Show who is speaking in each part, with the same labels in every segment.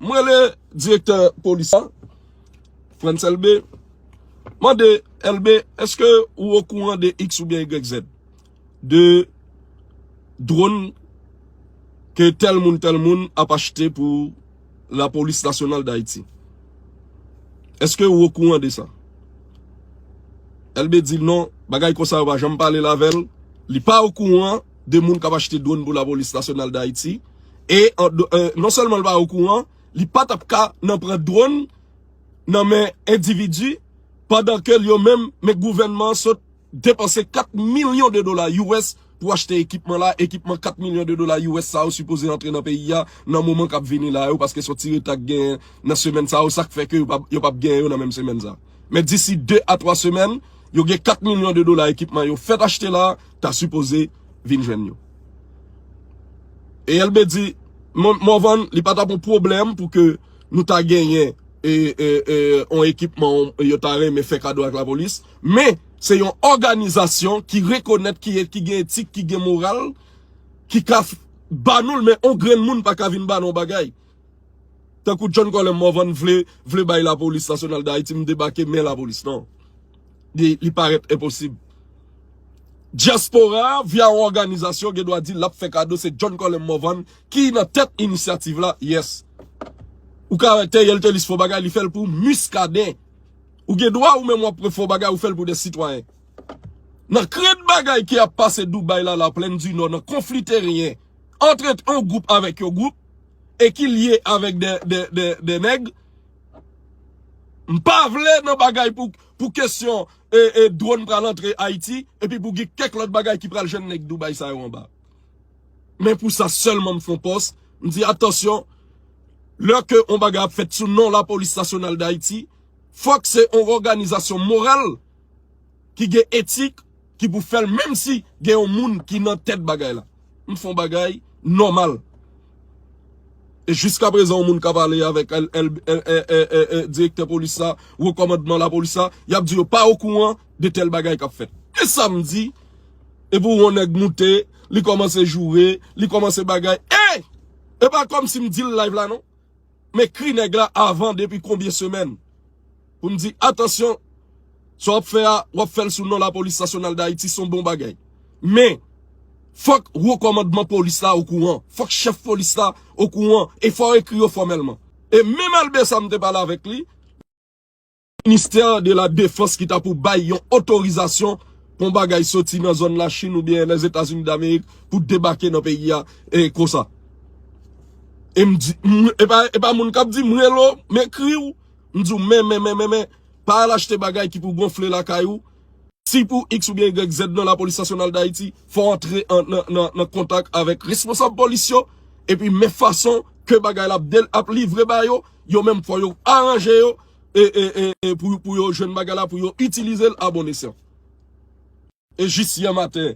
Speaker 1: M rele direktè polis la, Frantz Elbé, m mande, Elbé, èske ou okouran de iks oubyen igrèk zèd? De dronn ke tèl moun tèl moun ap achte pou lapolis nasyonal Dayiti? Èske ou okouran de sa? Elbé di non, bagay konsa yo pa janm pale l avè l, li pa okouran de moun k ap achte dronn pou lapolis nasyonal Dayiti. E non sèlman li pa okouran, li pa tap ka nan pran dronn nan men endividi pandan ke yo menm men gouvènman sot depanse 4 milyon de dola us pou achte ekipman la, ekipman 4 milyon de dola us sa yo sipoze antre nan peyi a nan moman kap vini la yo paske son ti reta ki genyen nan semèn sa yo sak fè ke yo pap genyen yo nan menm semèn sa. Men disi 2 a 3 semèn yo gen 4 milyon de dola ekipman yo fèt achte la ta sipoze vin jwenn yo. E Elbe di, Morvan, li pa ta pou pwoblèm pou ke nou ta genyen yon ekipman yo ta renmen fè kado ak lapolis, men se yon òganizasyon ki rekonèt ki gen etik, ki gen moral, ki ka banou l men yon grenn moun pa ka vin banou yon bagay. Tankou John Colem Morvan vle vle bay lapolis nasyonal dayiti m debake men lapolis nan. Li li parèt enposib. Dyaspora a via yon òganizasyon gen dwa di lap fè kado se John Colem Morvan ki nan tèt inisyativ la yes. Ou ka wè Theriel Thelus fò bagay li fèl pou Muscadin. Ou gen dwa ou menm wap pran fò bagay ou fèl pou de sitwayen. Nan krent bagay ki ap pase Dubai la la plèn di nò nan konfli teryen. antre yon gwoup avèk yon gwoup e ki lye avèk de nèg. M pa vle nan bagay pou kesyon e dron pral antre Ayiti e pi pou gen kèk lòt bagay ki pral jwenn nèg Dubai sa yo anba. Men pou sa sèlman m fon pòs, m di atansyon, lè ke yon bagay ap fèt sou non la polis nasyonal d'Ayiti, fòk se yon òganizasyon moral. ki gen etik ki pou fèl menm si gen yon moun ki nan tèt bagay la m fon bagay nòmal e jiska prezan yon moun kap ale avèk direktè polis la wo kòmandman la polis la yap di yo pa okouran de tèl bagay kap fèt e sa m di e pou yon nèg moute li kòmanse joure li kòmanse bagay e e pa kòm si m dil live la non. M ekri nèg la avan depi konbyen semèn pou m di atansyon sa w ap fè a w ap fè l sou non lapolis nasyonal dayiti s on bon bagay men fòk wo kòmandman polis la okouran fòk chèf polis la okouran e fò w ekri yo fòmèlman e menm Albert sa m te pale avèk li Ministè de la defans ki ta pou bay yon otorizasyon pou yon bagay soti nan zòn la Chine ou byen Lèzetazini Damerik pou debake nan peyi a konsa. E m di, e pa moun k ap di m rele w, m ekri w, m di w men, men, men, men, men, pa al achte bagay ki pou gonfle lakay ou, si pou iks ou byen ygrèk zèd nan Lapolis Nasyonal Dayiti, fò w antre nan kontak avèk responsab polis yo, epi men fason ke bagay la ap livre ba yo, yo menm fò yo aranje yo, E e e e pou pou yo jwenn bagay la pou yo itilizel a bon esyan. E jis yè maten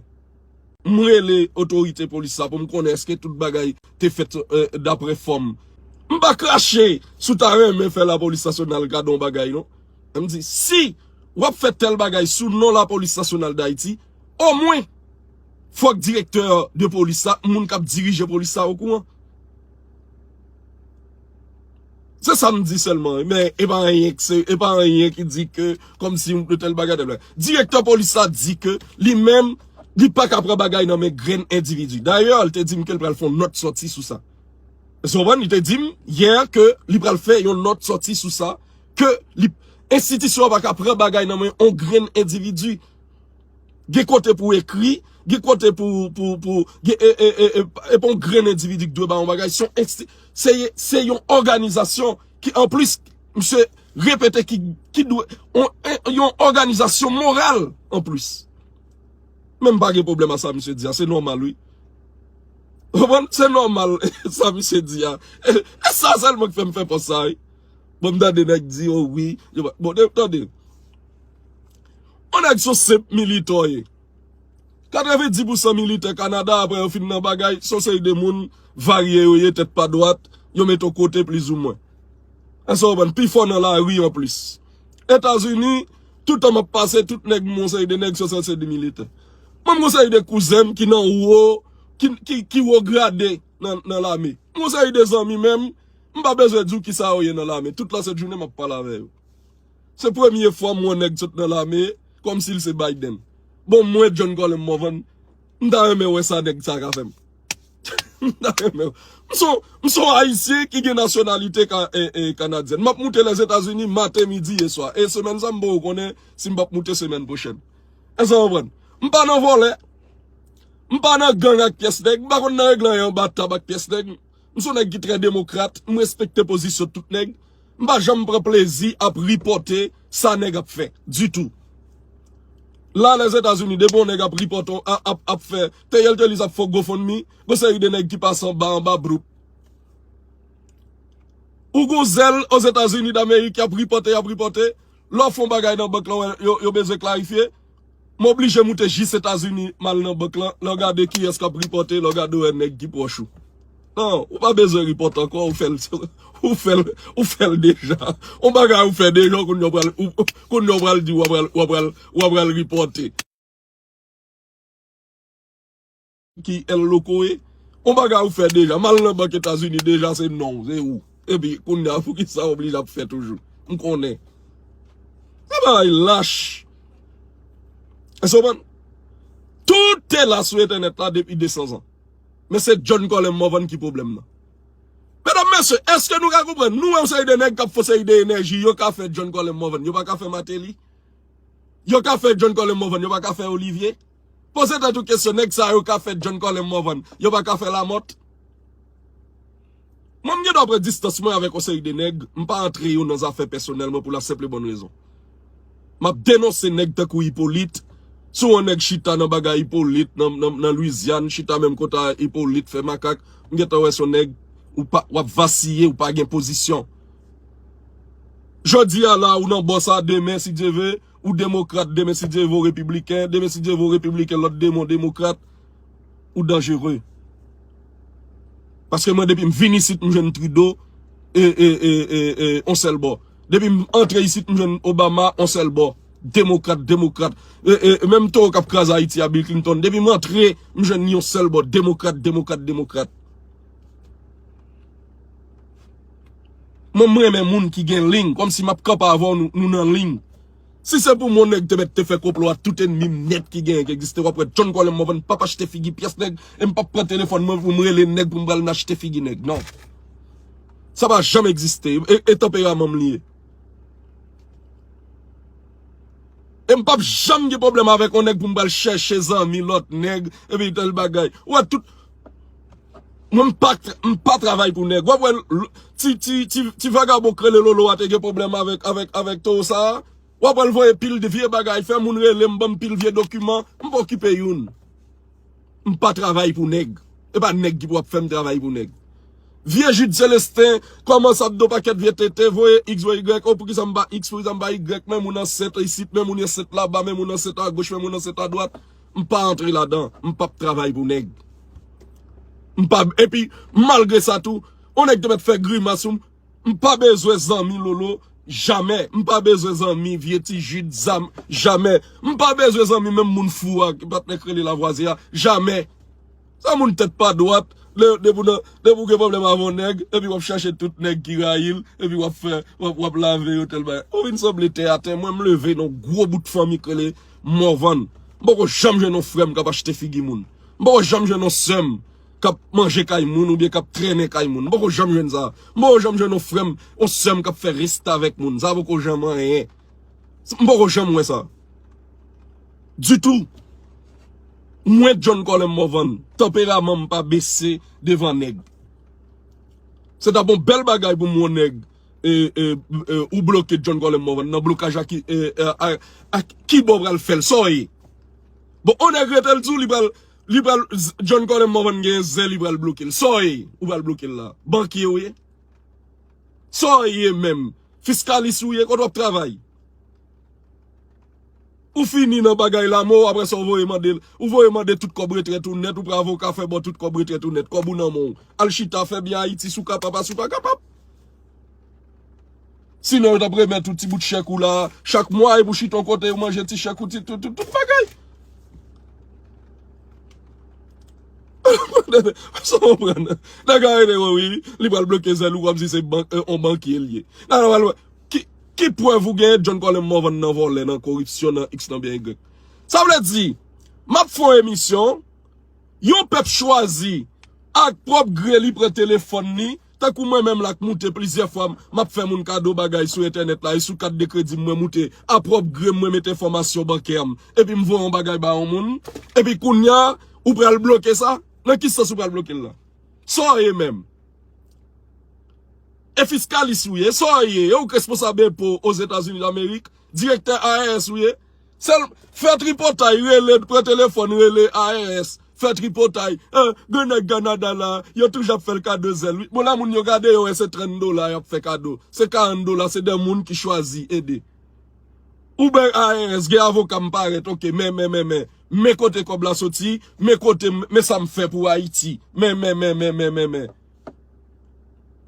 Speaker 1: m rele otorite polis la pou m konnen eske tout bagay te fèt dapre fòm. M pa krache si w ta renmen fè lapolis nasyonal gade yon bagay non. E m di si w ap fè tèl bagay sou non lapolis nasyonal dayiti omwen fòk direktè de polis la moun k ap dirije polis la okouran. Se sa m di sèlman wi, men e pa anyen k se, e pa anyen ki di ke kòm si yon tèl bagay, tèl bagay. Direktè polis la di ke li menm li pa ka pran bagay nan men grenn endividi. Dayè li te di m ke li pral fè yon nòt sòti sou sa. Èske ou konprann? Li te di m yè ke li pral fè yon nòt sòti sou sa ke li, enstitisyon an pa ka pran bagay nan men yon grenn endividi. Gen kote pou ekri, gen kote pou, e pa yon grenn endividi ki dwe ba yon bagay, se yon òganizasyon ki anplis, misye repete ki dwe, yon òganizasyon moral anplis. Men m pa gen pwoblèm a sa misye di a, se nòmal wi. Ou konprann? Se nòmal sa misye di a. E sa sèlman ki fè m fè pòs sa wi. Bon m tande nèg di o wi, bon tande. Yon nèg son senp militò ye. 90 pou san militè Kanada apre yo fin nan bagay son seri de moun varye yo ye tèt pa dwat, yo met yon kote plizoumwen. Èske ou konprann? Pifò nan lari an plis. Etazini, toutan map pase tout nèg m wè yon seri de nèg son seri se de militè. Mwen m yon seri de kouzen m ki nan wo, ki wo grade nan lame. M yon seri de zanmi menm, m pa bezwen di w kisa yo ye nan lame. Tout la sèt jounen map pale avè yo. Se premye fwa m wè nèg sot nan lame kòm si l se Biden. Bon mwen John Colem Morvan m ta renmen wè sa nèg sa ka fè m. M ta renmen wè. M son m son Ayisyen ki gen nasyonalite Kanadyèn. M ap moute Lèzetazini maten, midi e swa. E semèn sa m poko konnen si m p ap moute semèn pwochèn. Èske sa w konprann? M pa nan vòlè. M pa nan gang ak pyès nèg. M pa konn nan regle anyen anba tab ak pyès nèg. M son nèg ki trè demokrat, m respekte pozisyon tout nèg. M pa janm pran plezi ap ripòte sa nèg ap fè, ditou. La Lèzetazini, depi yon nèg ap ripòte, ap fè, teyèlteliz ap fè yon gofondmi, gon seri de nèg ki pase anba, anba bloup. Ou gon zèl Ozetazini Damerik, y ap ripòte, y ap ripòte, lè w fè yon bagay nan bank lan, yo bezwen klarifye. M oblije moute jis Etazini m al nan bank lan, lè w gade kiyès k ap ripòte, lè w gade wè nèg ki pwòch ou. Non, ou pa bezwen ripòte ankò, ou fè l, ou fè l, ou fè l deja. On bagay ou fè deja, kounye a w pral, kounye a w pral di w ap pral, w ap pral, w ap pral ripòte. Ki El Loco e? On bagay ou fè deja, mal nan bank Etazini deja se non ou, se ou. Epi kounya poukisa ou oblije ap fè toujou? M konnen. Sa bagay lach. Èske ou konprann? Tout te la sou entènèt la depi 200 zan. Men se John Colem Morvan ki pwoblèm nan. Medam, mesye, èske nou ka konprann? Nou wè yon seri de nèg k ap fon seri de enèji, yo ka fè John Colem Morvan, yo pa ka fè Martelly? Yo ka fè John Colem Morvan, yo pa ka fè Olivier? Poze tèt ou kesyon nèg sa yo ka fè John Colem Morvan, yo pa ka fè Lamothe? Mwen m gen dwa pran distans mwen avèk yon seri de nèg, m pa antre yo nan zafè pèsonèl mwen pou la senp e bòn rezon. M ap denonse nèg tankou Hyppolite, si yon nèg chita nan bagay Hyppolite nan Louisiane, chita menm kote a Hyppolite fè makak, m gen tan wè se yon nèg ou pa, w ap vasiye, ou pa gen pozisyon. Jodi a la ou nan bò sa, demen si Dye ve, Ou demokrat demen si Dieu vè ou repibliken, demen si Dieu vè ou repibliken lòt demon demokrat, ou danjere. Paske mwen depim vin isit m jwenn Trudeau e e e e e on sèl bò. Depim antre isit m jwenn Obama on sèl bò. Demokrat, demokrat. E e e menm towo kap kraze Ayiti a Bill Clinton, depim antre m jwenn ni on sèl bò. Demokrat, demokrat, demokrat. Mwen m renmen moun ki gen ling kom si map kanpe avèw nou nan ling. Si se pou mwen nèg te mèt te fè konplo a tout enmim nèt ki genyen ki egziste wap wè John Colem Morvan pap achte figi pyès nèg e m pap pran telefòn mwen pou m rele nèg pou m pral nan achte figi nèg nan. Sa pa janm egziste e tanperaman m li ye. E m pap janm gen pwoblèm avèk yon nèg pou m pral chèche zanmi lòt nèg epi tel bagay. Ou wè tout. Mwen m pa m pa travay pou nèg. Wap wè ti ti ti vagabon k rele Lolo a te gen pwoblèm avèk avèk avèk toro sa a. Wap wè l voye pil de vye bagay, fè moun rele m, ban m pil vye dokiman. M pa okipe youn. M pa travay pou nèg. E pa nèg ki pou ap fè m travay pou nèg. Vye Jude Celestin, kòman sa bdo pakèt vye tenten, voye x voye y, oh poukisa m pa x, poukisa m pa y, men moun ansent isit, men moun ansent laba, men moun ansent agoch, men moun ansent adwat. M pa antre ladan, m pap travay pou nèg. M pa epi malgre sa tou, yon nèg te mèt fè grimas sou m, m pa bezwen zanmi lolo jamè, m pa bezwen zanmi vye ti jid zam jamè, m pa bezwen zanmi menm moun fou a ki patnè k rele lavwazye a jamè. Sa moun tèt pa dwat, depi w gen pwoblèm avè yon nèg, epi w ap chache tout nèg ki rayi l, epi w ap fè, w ap lave yo tèl bagay. Ou vin sanble tè a tè, mwen m leve nan yon gwo bout fanmi k rele Morvan. M poko janm jwenn yon frè m k ap achte figi moun. M poko janm jwenn yon sè m k ap manje kay moun oubyen k ap trennen kay moun. M poko janm jwenn sa. M poko janm jwenn yon frè m, yon sè m k ap fè restavèk moun. Sa poko janm anyen. M poko janm wè sa. Ditou. Mwen John Colin Morvan, tanperaman m pa bese devan nèg. Se ta bon bèl bagay pou m wè yon nèg ou bloke John Colin Morvan nan blokaj a ki ak ki bò ou pral fè l, sa w ye? Bon yon nèg rete l di w li pral li pral John Colin Morvan genyen zen li pral bloke l, sa w ye ou pral bloke l la? Bankye ou ye? Sa w ye menm? Fiskalis ou ye? Kote wap travay? Ou fini nan bagay la mou apre sa ou voye mande ou voye mande tout kòb retrèt ou nèt ou pran avoka fè bò tout kòb retrèt ou nèt kòb ou nan men w al chita fè byen ayiti si w kapab a si w pa kapab sinon yo t ap remèt ou ti bout chèk ou la chak mwa epi w chita yon kote yo manje ti chèk ou ti tout bagay. Sa w konprann? Nèg la rele w wi, li pral bloke zèl ou kòm si se yon bankye l ye. Nan nan pral wè. Ki ki prèv ou genyen John Colem Morvan nan vòlè, nan koripsyon, nan iks, nan byen ygrèk? Sa vle di, m ap fè yon emisyon, yon pèp chwazi ak pwòp gre li pran telefòn li, Tankou mwen menm la k moute plizyè fwa map fè moun kado bagay sou entènèt la e sou kat de kredi m mwen moute a pwòp gre m mwen met enfòmasyon bankè m epi m voye yon bagay ba yon moun epi kounya ou pral bloke sa nan ki sans ou pral bloke l la sa w ye menm e fiskalis ou ye sa w ye e ou k responsab enpo Ozetazini Damerik direktè IRS ou ye. Sel fè tripotay rele pran telefòn rele ARS fè tripotay eh gen nèg Canada la yo toujou ap fèl kado zèl wi bon lè moun yo gade yo wè se 30 dola yap fè kado se 40 dola se 2 moun ki chwazi ede Uber ARS gen avoka m parèt ok men men men men men kote kòb la soti men kote men sam fè pou Ayiti men men men men men men men.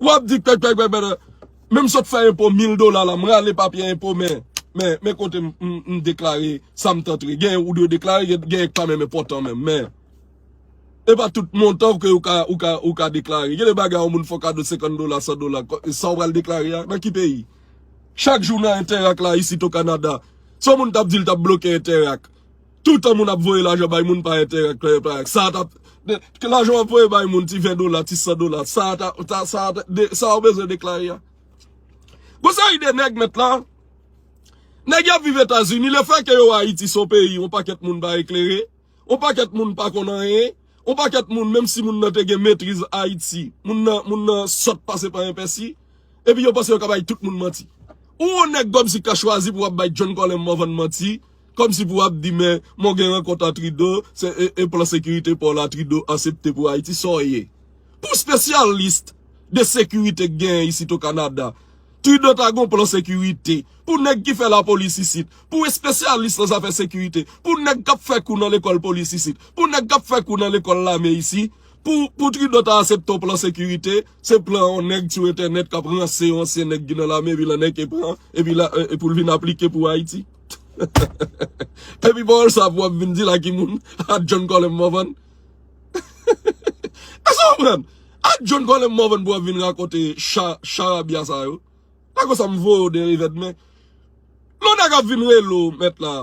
Speaker 1: Wap di pèk pèk pèk pèk pèk. Menm sot fè enpo 1000 dola la m rale papye enpo men men kote m deklare sa m t antre. Gen ou dwe deklare gen ki pa menm enpotan menm men. E pa tout montan ke ou ka deklare. Gen de bagay yon moun fè w kado 50 dola 100 dola sa w pral deklare a nan ki peyi. Chak jou nan enterak la isit o kanada. Si yon moun tap di l tap bloke enterak. Toutan moun ap voye lajan bay moun pa enterè ak pa anyen. Sa a ta, ke lajan w ap voye bay moun ti 20 dola, ti 100 dola, sa a ta, sa a ta, sa a ou bezwen deklare a. Gon seri de nèg mèt la, nèg y ap viv Etazini, le fè ke yo Ayiti se yon peyi yon pakèt moun pa eklere, yon pakèt moun pa konn anyen, yon pakèt moun menm si moun nan te gen metriz Ayiti, moun nan, moun nan sòt pase pa enpèsi, epi yo panse yo ka bay tout moun manti. Ou yon nèg kòmsi ka chwazi pou w ap bay John Colem Morvan manti. Kòm si pou ap di men m'en gen rankont a Trido se e plan sekirite paw la Trido asepte pou Ayiti saw ye pou specialist de sekirite k genyen isit o Kanada Trido ta gon plan sekirite pou nèg ki fè la polis isit pou espesyalis nan zafè sekirite pou nèg kap fè kou nan lekòl polis isit pou nèg kap fè kou nan lekòl lame isi pou pou Trido ta asepte w plan sekirite se plan yon nèg sou entènèt kap ranse yon ansyen nèg ki nan lame epi lan nèg ke pran epi la e poul vin aplike pou Ayiti. Epi pawòl sa pou wap vin di la ki moun ak John Colem Morvan? Èske w konprann? Ak John Colem Morvan pou wap vin rakonte charabya sa yo? Lè konsa m voye w de revè de men. Lè nèg ap vin rele w mèt la,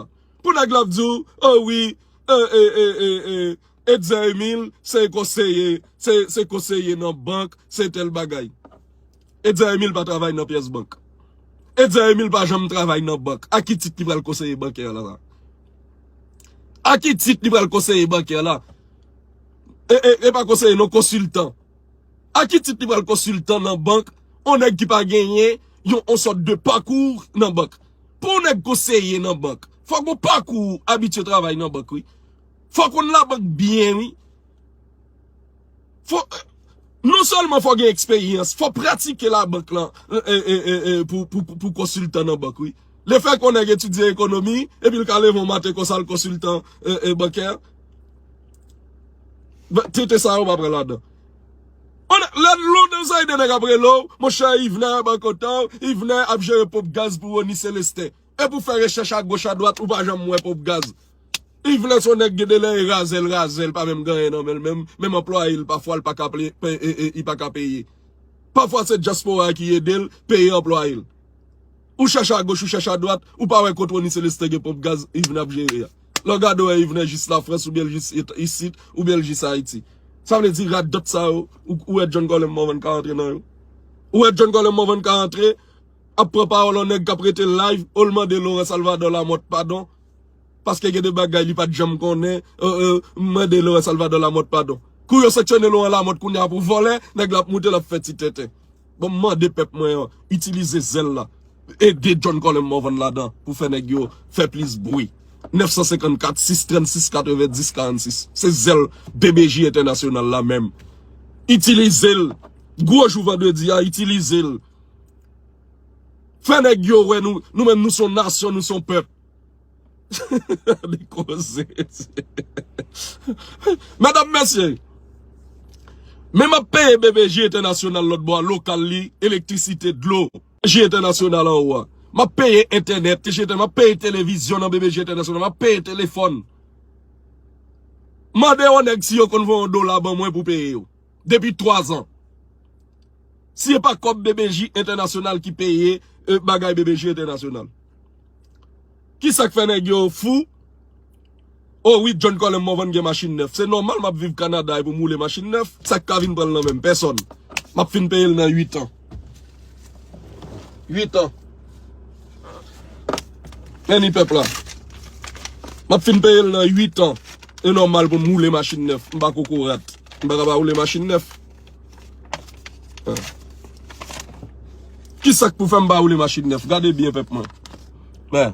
Speaker 1: pou nèg la ap di w, o wi, e, e, e, e, e, Etzer Emile se konseye, se konseye nan bank, se tèl bagay. Etzer Emile pa travay nan pyès bank. Etzer Emile pa janm travay nan bank. A ki tit li pral konseye bankè la la? A ki tit li pral konseye bankè la? E pa konseye non, konsiltan. A ki tit li pral konsiltan nan bank? On nèg ki pa genyen yon on sòt de pakour nan bank. Pou on nèg konseye nan bank, fòk ou pakour abitye travay nan bank wi. Fòk on la bank byen wi. Fo Non sèlman fò gen eksperyans, fò pratike labank lan pou konsiltan nan bank wi. Le fè kon nèg etidye ekonomi, epi l ka leve yon maten konsa l konsiltan bankè. Tenten sa yo pa pran ladan. Lè lon nan zay de nèg ap rele w, monchè Yvenè bank kontan w, Yvenè ap jere ponp gaz pou Rony Celestin. Epi ou fè rechèch a goch a dwat ou pa janm wè ponp gaz. Yveler son nèg gen de lè e razèl razèl pa menm gen anyen nan menl menm, menm anplwaye l pafwa l paka li paka peye. Pafwa se dyaspora ki ede l peye anplwaye l. Ou chèche a goch ou chèche a dwat ou pa wè kot Rony Celestin gen ponp gaz Yvener ap jere a. Lè w gade w wè Yvener jis lafrans oubyen l jis isit oubyen l jis Ayiti. Sa vle di radòt sa yo ou wè John Colem Morvan ka antre nan yo? Ou wè John Colem Morvan ka antre? ap pran pawòl yon nèg kap rete live ou l mande Laurent Salvador Lamothe padon paske gen de bagay li pat janm konnen ou mande Laurent Salvador Lamothe padon. Kou yo sanksyone Laurent Lamothe kounye a pou vòlè, nèg la ap moute lap fè ti tenten. Bon m mande pèp mwen an itilize zèl la ede John Colem Morvan ladan pou fè nèg yo fè plis bwi 954 636 90 46 se zèl BBJ entènasyonal la menm itilize l gwo jou vandredi a itilize l. Fè nèg yo wè nou nou menm nou son nasyon nou son pèp. Li koze ti. Medam mesye. Men map peye BBJ entènasyonal lòt bò a lokal li, elektrisite, dlo. BBJ entènasyonal an ou a. Map peye entènèt, map peye televizyon nan BBJ entènasyonal, map peye telefòn. Mande yon nèg si yo konn voye yon dola ban mwen pou peye yo. depi 3 ans. Si e pa kob BBJ International ki peye bagay BBJ International. Ki sak fè nèg yo fou? O wi John Colem Morvan gen machin nèf. Se nòmal map viv Canada e pou m woule machin nèf. Sak ka vin pran l nan men m? Pèsòn. Map fin peye l nan 8 ans. 8 an. Any pèp la. Map fin peye l nan 8 an. E nòmal pou m woule machin nèf. M pa kokorat. M pa ka pa woule machin nèf. Ki sak pou fè m pa woule machin nèf? Gade byen pèp mwen. Men.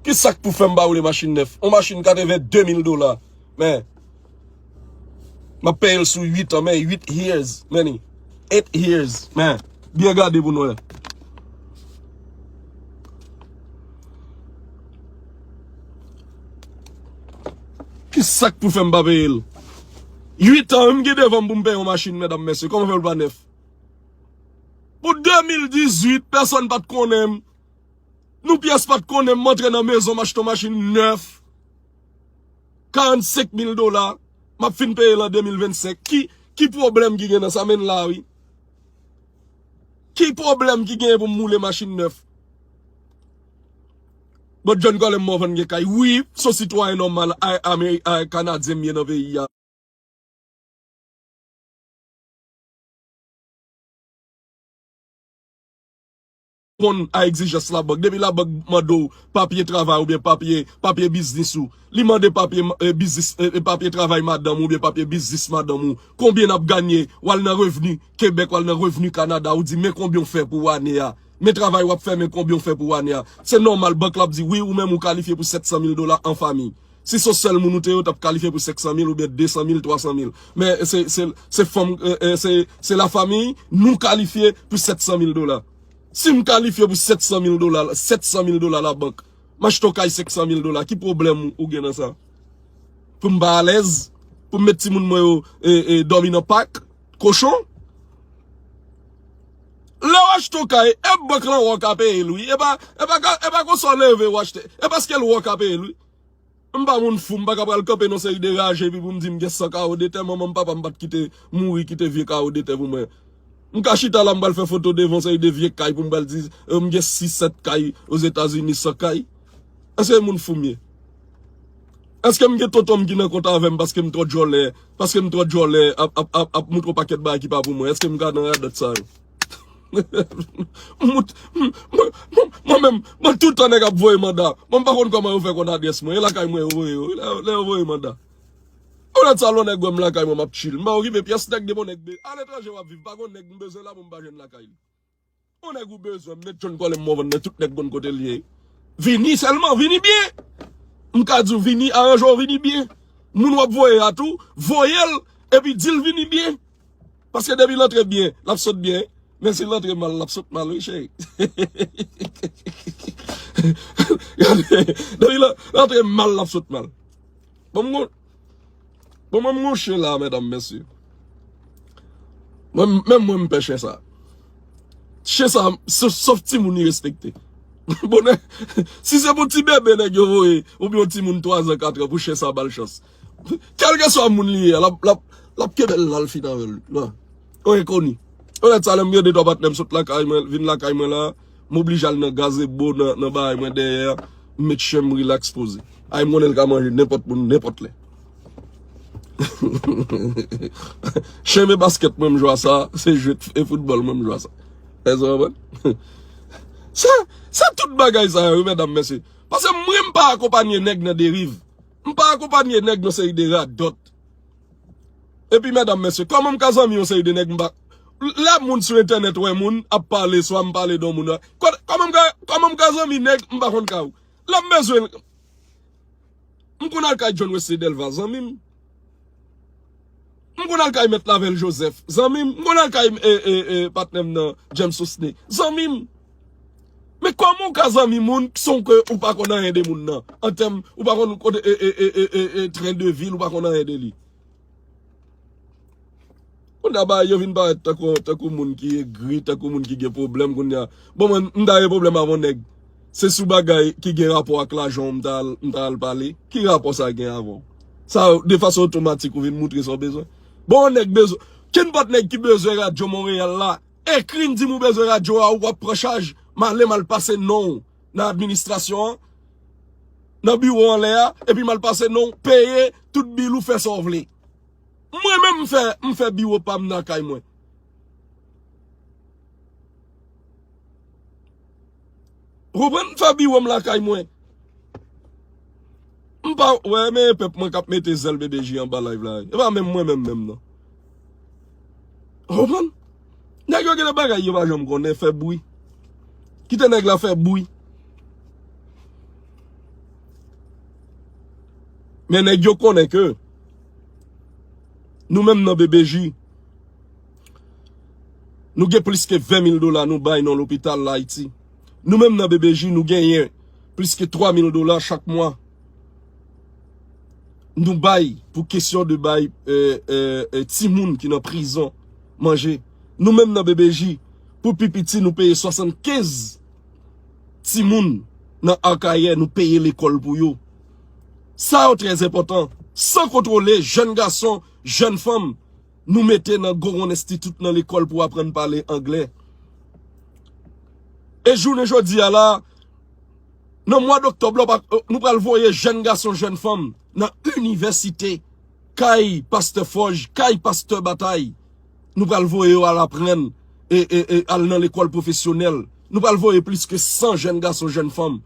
Speaker 1: Ki sak pou fè m pa woule machin nèf? On machin 82 mil dola. Men. Map peyel sou 8 an men 8 years meni 8 years men byen gade pou nou wè. Ki sak pou fèm pa peyel. 8 an menm gen devanm pou m peye yon machin medam mesye koman fèl pa nèf. Pou 2018 pèsòn pat konnen nou pyès pat konnen m antre nan mezon m achte yon machin nèf. 45 mil dola map fin peyel an 2025 ki ki pwoblèm ki gen nan sa menn la wi ki pwoblèm ki gen pou m moule machin nèf bon John Colem mò van gen kay wi son sitwayen nòmal ay kanadyen m ye nan peyi a. ponn a egzijans labank. Depi labank mande w papye travay oubyen papye papye biznis ou, li mande papye biznis papye travay madanm ou oubyen papye biznis madanm ou, konbyen n ap ganye? W al nan revni Kebèk, w al nan revni Kanada, ou di men konbyen ou fè pou ane a. Men travay w ap fè, men konbyen ou fè pou ane a. Se nòmal bank la ap di wi ou menm ou kalifye pou 700 mil dola an famiy. Si son sèl moun ou te yo tap kalifye pou 500 mil oubyen 200 mil 300 mil men se fanm se la famiy nou kalifye pou 700 mil dola sim kalifye pou 700 mil dola 700 mil dola la bank ma chton kay 500 mil dola ki pwoblèm ou gen nan sa poum pa alèz poum met ti moun mwen yo e dòmi nan pak kochon lèw achton kay e bank lan wè w ka peyel wi e pa e pa konsa w leve w achte e paskel wè w ka peyel wi. M pa moun fou m paka pral kanpe nan seri de raje epi pou m di m gen 100 kawo de tè manman m papa m pat kite mouri kite vye kawo de tè pou mwen m ka chita la m pral fè foto devan yon seri de vye kay pou m pral di m gen 6 7 kay ozetazini 100 kay èske moun fou m ye èske m gen tonton m ki nan kontan avè m paske m twò djòlè paske m twò djòlè ap ap ap moutre yon pakèt bagay ki pa pou mwen èske m ka nan radòt sa yo. Mwen menm, mwen tout tan nèg ap voye manda. Mwen pa konn kòman yo fè konn adrès mwen. E lakay mwen yo voye yo. Lè yo voye manda. Ou lòt sa lè yon nèg wè m lakay mwen m ap tchil. M pa okipe pyès nèg depi yon nèg de. Aletranje wap viv pa gon nèg m bezwen la pou m pa jwenn lakay li. Yon nèg ou bezwen m met chonn kòlè m wonvon men tout nèg konn kote l ye. Vini sèlman, vini byen. M ka di w vini aranje w vini byen. Moun wap voye a tou, voye l epi di l vini byen. Paske depi l antre byen, l ap sot byen. Men si l antre mal, l ap sot mal wi cheri. Depi l antre mal, l ap sot mal. Bon m gon, bon mwen m gon chen la medam mesye. Mwen menm mwen m pè chen sa. Chen sa, sof ti moun li respekte. Bonè, si se pou ti bebe nèg yo voye, oubyen yon ti moun 3 an 4 an pou chen sa ba l chans. Kelke swa moun li ye a, lap kenbe l lal fini avèl. Yon enkoni. Ou wè sa lèm gen 2 3 patnè m sot lakay mwen, vin lakay mwen la, m oblije al nan gazebo nan bahay mwen dèyè a, m met chen m rilaks poze. Ay m konnen l ka manje nenpòt moun nenpòt lè. Chen me baskèt mwen m jwa sa, se jwe e foutbòl mwen m jwa sa. Èske nou konprann? Se tout bagay sa yo wi medam mesye. Pase mwen m pa akonpanye nèg nan deriv. M pa akonpanye nèg yon seri de radòt. Epi medam mesye, kòman m ka zanmi yon seri de nèg m pa Lè moun sou entènèt wè moun ap pale swa m pale de yon moun Kòman m ka kòman m ka zanmi nèg m pa konn ka ou Lè m bezwen l M konn al kay John Wesley Delva zanmi m. M konn al kay mèt Lavelle Joseph, zanmi m. M konn al kay patnè m nan James Sosthene, zanmi m. Men kòman ou ka zanmi moun san ke ou pa konn anyen de moun nan? An tèm, ou pa konn kote e e e e e tren de vi l, ou pa konn anyen de li. Moun kap bay yo vin parèt tankou moun ki egri, tankou moun ki gen pwoblèm kounye a. Bon mwen, m ta gen pwoblèm avon nèg. Se sou bagay ki gen rapò ak lajan w m ta al, m ta al pale. Ki rapò sa gen avè w? Sa, de fason otomatik ou vin moutre sa w bezwen. Bon yon nèg bezwen, kenpòt nèg ki bezwen radyo Monreyal la, ekri m di m ou bezwen radyo a ou wap pran chaj. M ale m al pase non w nan administrasyon an, nan biwo anlè a, epi m al pase non w, peye tout bil ou fè sa w vle. Mwen menm m fè m fè biwo pam nan kay mwen. Ou konprann m fè biwom lakay mwen. M pa wè men e pèp mwen kap mete zèl BDJ anba live la. E pa menm mwen menm menm nan. Ou konprann? Nèg yo gen de bagay yo pa janm konnen fè bwi. Kite nèg la fè bwi. Men nèg yo konnen ke. Nou menm nan BBJ, nou gen plis ke 20 mil dola nou bay nan lopital la Ayiti. Nou menm nan BBJ, nou genyen plis ke 3 mil dola chak mwa. Nou bay pou kesyon de bay ti moun ki nan prizon manje. Nou menm nan BBJ, pou pi piti nou peye 75 ti moun nan Arkaye nou peye lekol pou yo. sa yo trè enpòtan, san kontwole jèn gason, jèn fanm nou mete nan goron enstitit nan lekòl pou aprann pale angle. E jounen jodi a la, nan mwad oktòb la, nou pral voye jèn gason, jèn fanm nan inivèsite, kay pastè fòj, kay pastè batay, nou pral voye yo al aprann, e al nan lekòl pwofesyonèl, nou pral voye plis ke 100 jèn gason, jèn fanm.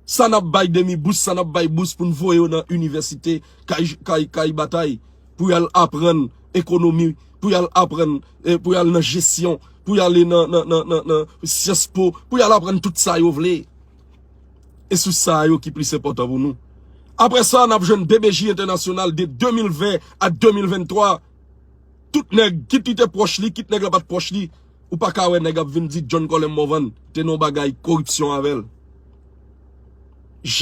Speaker 1: Sa nap bay demi bous sa nap bay bous poun voye yo nan inivèsite kay kay batay pou yal aprann ekonomi pou yal aprann pou yal nan jesyon pou yale nan nan nan nan nan syans po pou yal aprann tout sa yo vle e sou sa yo ki plis enpòtan pou nou aprè sa nap jwenn BBJ entènasyonal de 2020 a 2023 tout nèg kit li te pwòch li kit nèg la pat pwòch li. Ou pa ka wè nèg ap vin di John Colem Morvan te nan yon bagay koripsyon avè l.